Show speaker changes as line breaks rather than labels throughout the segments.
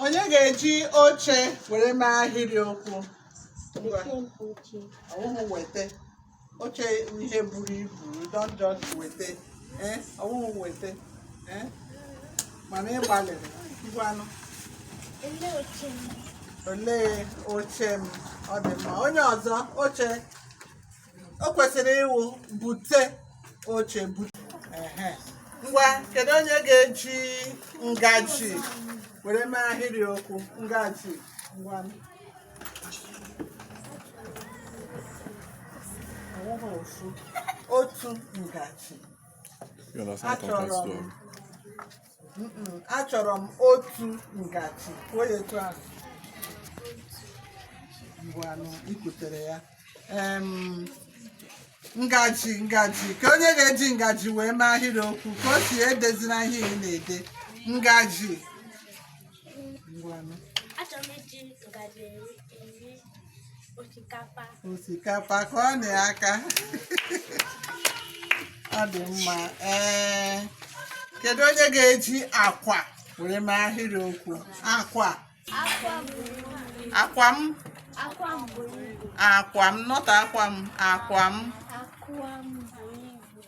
onye ga-eji oche were mee ahịrị okwu ọ wụhụ weta oche ihe buru ibu don just weta eh, ọ wụhụ weta eh, mana ị gbalịrị ngwanụ olee oche m ọ dị mma onye ọzọ oche o kwesịrị ịwụ bute oche bute ehe ngwa kedu onye ga-eji ngaji were mee ahịrị okwu ngaji ngwa ọ wụghị ofu otu ngaji You understand Achọrọ m. context story. achọrọ m otu ngaji kwuo ya etu ahụ ngwanụ i kwutere ya Em, ngaji ngaji ka onye ga-eji ngaji wee mee ahịrị okwu Kaosi edezina ihe ị na-ede ngaji ngwanụ achọrọ m iji ngaji eri osikapa osikapa kụọnụ aka ọ dị mma ee kedu onye ga-eji akwa were mee ahịrị okwu akwa akwa m akwa m nọta akwa m akwa m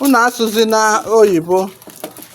unu asụzina oyibo